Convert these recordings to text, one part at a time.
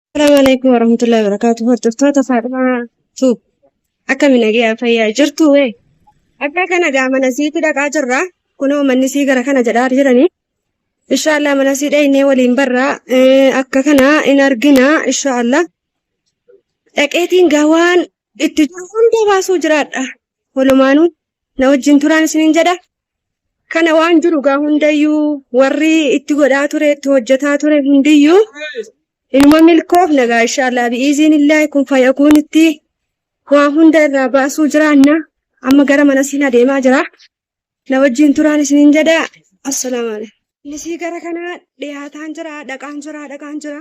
Assalamu alaikum warahmatullahi wabarakatuh. Hordoftoota Faadhimaa Tuub. Akkami nagaa fayyaa jirtu wee? Akka kana gaa mana siiti dhaqaa jirra. Kunoo manni sii gara kana jedhaa jiranii. Inshaallah mana sii dhaynee waliin barraa. Eh, Akka kana in argina inshaallah. Dhaqeetiin gaa waan itti jiru hunda baasuu jiraadha. walumaanuu na wajjin turaan isiniin jedha. Kana waan jiru gaa hundayyuu warri itti godhaa ture itti hojjetaa ture hundiyyuu inuma milkoof nagaa inshaallah bi'iiziin illaahi kun fayyakuun itti waa hunda irraa baasuu jiraanna amma gara mana siin adeemaa jira na wajjin turaan isiniin jedha assalaamu alaikum. Nisii gara kana dhiyaataan jira dhaqaan jira dhaqaan jira.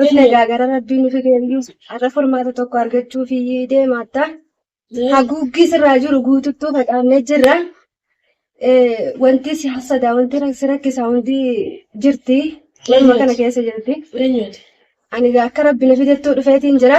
Dhufne egaa gara rabbii nufi deebi'u. Har'a furmaata tokko argachuuf deemaatta. Haguuggii sirraa jiru guututtuu facaafnee jirra. Eh, Wanti si hassadaa, wanti rak- si rakkisaa hundi jirti. Waluma kana keessa jirti. Ani egaa akka rabbi na fidetti dhufeetiin jira.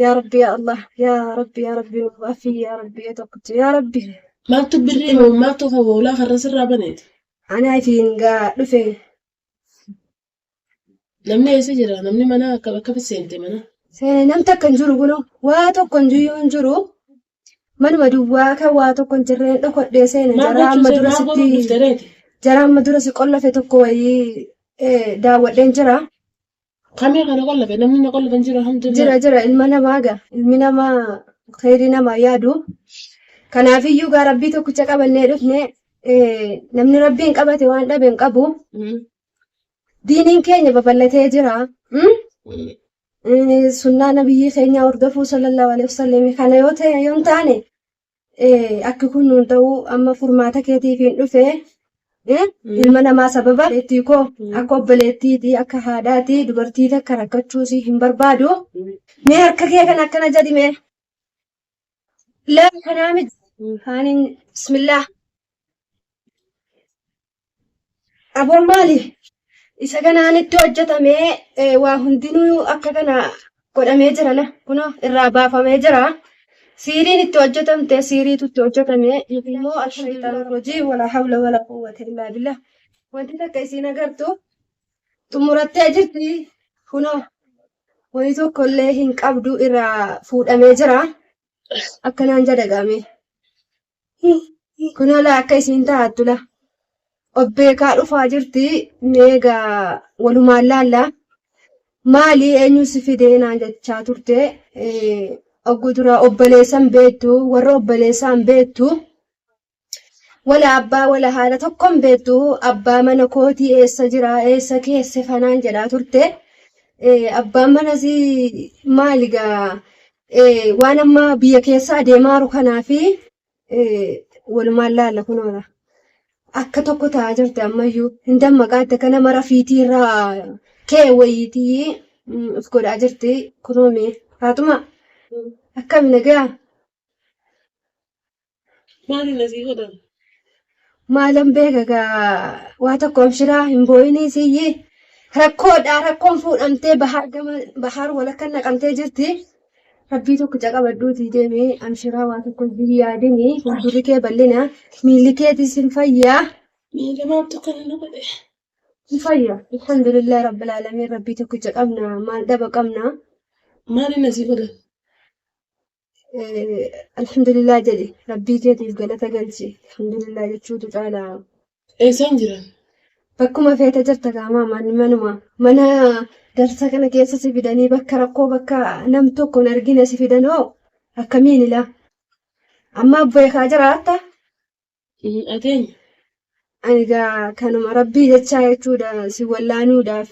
yaa rabbi yaa allah yaa rabbi yaa rabbi nuuf afii yaa rabbi ee tokkicha yaa rabbi Maaltu birrii moo maaltu kan hoolaa karra sirraa baneeti? anaa ifiin gaa dhufe Namni eessa jira? Namni mana akka akkamitti seente mana? seene nam takka hin jiru kuno waa tokko hin jiru hin jiru manuma duwwaa kan waa tokko hin jirreen dhokodhee seene Maal jaraa amma gochuun dura maal godhuun sitti dhufte reeti? jaraa amma dura si qollafe tokko wayii eh, daawwadheen jira Kamee kana qollafe namni na qollafe hin jiru alhamdulillah. Jira jira ilma namaa gaa ilmi namaa khayrii namaa yaadu. Kanaafiyyuu gaa rabbii tokkicha qabannee dhufne eh, namni rabbiin qabate waan dhabe hin qabu. Mm. Diiniin keenya babal'atee jira. Mm? Mm. Eh, Sunnaa nabiyyii keenyaa hordofuu sallallahu alaihi wasallam kana yoo ta'e yoo hin taane Akki kun nuun ta'uu amma furmaata keetiifiin dhufe ilma namaa sababa obboleettii koo akka obboleettiiti akka haadhaati dubartii takka rakkachuusii hin barbaadu. Mee harka kee kan akkana jedhi mee. Lafa kanaa miti. Kaaniin bismillaa. Aboon maali? Isa kanaan itti hojjetamee eh, waa hundinuu akka kana godhamee jira la kuno irraa baafamee jira. Siiriin itti hojjetamte siiriitu itti hojjetame yookiin immoo ashayxaan rojii wala hawla wala quwwata illaa billah. Wanti takka isiin agartu xumurattee jirti kuno wayii tokko illee hin qabdu irraa fuudhamee jira. Akkanaan jedha gaamee. Kunoo laa akka isiin taa'attu laa. Obbeekaa dhufaa jirti meegaa walumaan laallaa. Maali eenyuun si fidee naan jechaa turte. Ogguu duraa obboleessan beektu warra obboleessaan beektu. Wala abbaa wala haadha tokkoon beektu abbaa mana kootii eessa jira eessa keesse fanaan jedhaa turte. Abbaan manasii maali gaa waan amma biyya keessa adeemaaru kanaa fi walumaan laalla kunoona. Akka tokko ta'aa jirti ammayyuu. Hin dammaqaa itti kana mara fiitii irraa kee wayiitii of godhaa jirti kunoomee. Faaxuma akkami nagaa? Maali nasii godhan? Maalan beeka gaa waa tokko amshiraa hin boo'inii siyyii rakkoodha rakkoon fuudhamtee bahaar gama bahaar walakka naqamtee jirti. Rabbii tokko caqabadhuutii deemee amshiraa waa tokko hin yaadinii fuuldurri kee bal'ina miilli keetis hin fayyaa. Miila maaltu kana na godhe? Hin fayyaa. Alhamdulillah rabbil aalamiin rabbii tokkicha qabna maal dhaba qabna. Maali nasii godhan? alhamdulillah jedhi rabbii keetiif galata galchi alhamdulillah jechuutu caala Eessaan jiran? bakkuma feete jirta gaamaa man manuma mana darsa kana keessa si fidanii bakka rakkoo bakka nam tokko hin argine si fidanoo akkamiin ilaa amma beekaa jiraatta hin dhageenye. Ani gaa kanuma rabbii jechaa jechuudha si wallaanuudhaaf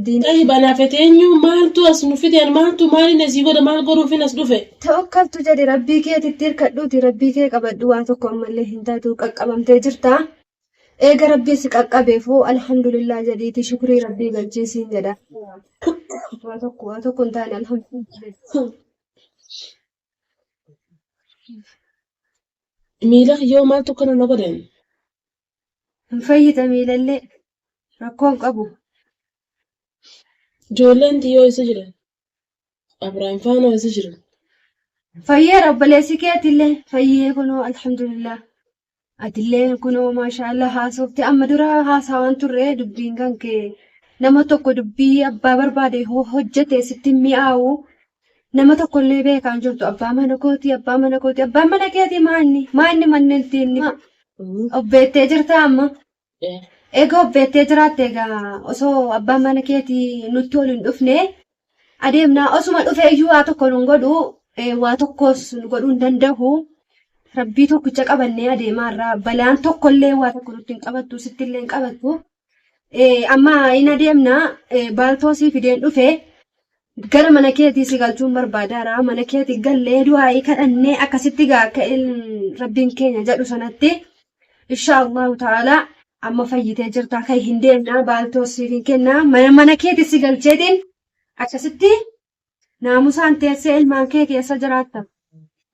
diina. Tahi banaa feteenyu maaltu as nu fideen maaltu maaliin asii godha maal godhuufin as dhufe. Tawakkaltu jedhi rabbii keetitti hirkadhuuti rabbii kee qabadhu waa tokko ammallee hin taatu qaqqabamtee jirta. Eega rabbii si qaqqabeefoo alhamdulillah jedhiiti shukrii rabbii galchii siin jedha. Waa tokko waa tokko hin taane alhamdulillah. Miila kiyyoo maaltu akkana na godheen? Hin fayyita miilallee. Rakkoon qabu. Ijoolleen tiyyoo isa jiran. Abraham faanoo isa jiran. Fayyeera obboleessi keetillee fayyee kunoo alhamdulillah. Atillee kunoo maashaa Allah haasofte amma dura haasawaan turre dubbiin kan kee nama tokko dubbii abbaa barbaade ho- hojjete sitti hin mi'aawu nama tokkollee beekaan jirtu abbaa mana kooti abbaa mana kooti abbaan mana keetii maanni maanni manneen tiinni obbeettee jirta amma Egaa of beektee jiraatte egaa osoo abbaan mana keeti nutti ol hin dhufne adeemna osuma dhufee iyyuu waa tokko nun godhu eh, waa tokkos nu godhuu hin danda'u rabbii tokkicha qabannee adeemaa irraa balaan tokkollee waa tokko nutti hin qabattu sitti illee hin qabattu Eh, amma hin adeemna eh, baaltoo sii fideen dhufe Gara mana keetii si galchuun barbaadaara. Mana keetii gallee du'aa'ii kadhannee akkasitti gaa akka il- rabbiin keenya jedhu sanatti insha Allahu ta'ala amma fayyitee jirta kan hin deemna baaltoos siif hin kenna mana mana keetii si galcheetiin akkasitti naamusaan teessee ilmaan kee keessa jiraatta.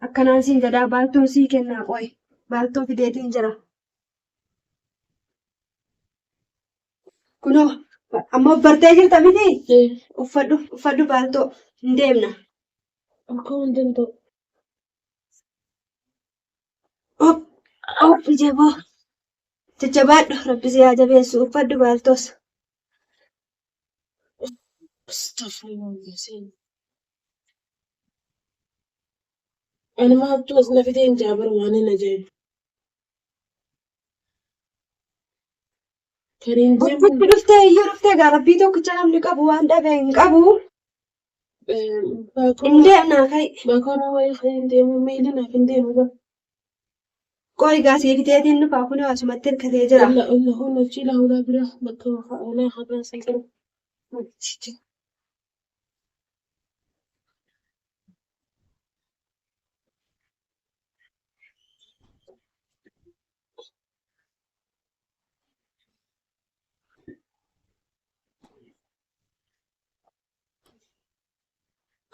Akkanaan siin jedhaa baaltoon sii kennaa qoy baaltoo fideetiin jira. Kunoo amma bartee jirta miti uffadhu uffadhu baaltoo hin deemna. Akka waan danda'u. Op op jaboo jajjabaadhu rabbi si haa jabeessu uffadhu baaltoos. Ani maattu as na fidee hin jaabar waan hin ajaa'ibu. Gurbichi dhuftee iyyuu dhuftee gaa rabbii tokkicha namni qabu waan dhabe hin qabu. Hin deemnaa ka'i. Bakora wayii kan hin deemu miilli naaf hin deemu bara. Qoy gaa sii fiteetiin dhufaa kun asumatti hirkatee jira. Alla alla kun hojii laawulaa bira bakka maqaa oolaa haqaa sii qabu.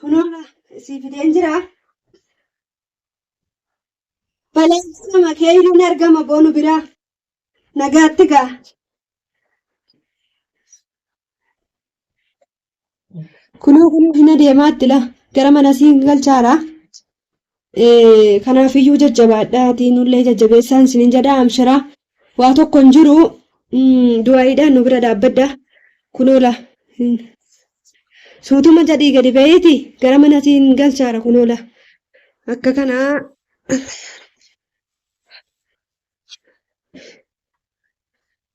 Kunoora sii fideen jira. Baleessama keeyriin argama boonu biraa. Nagaatti gaa. Kunoo kunoo hin adeemaa itti laa gara mana siin galchaara. Kanaafiyyuu jajjabaadhaatii nullee jajjabeessaan isin hin jedhaa amshiraa waa tokko hin jiru du'aayiidhaan nu bira dhaabbadha kunoo laa suutuma jedhii gadi ba'iiti gara mana siin galchaara kunoo laa akka kanaa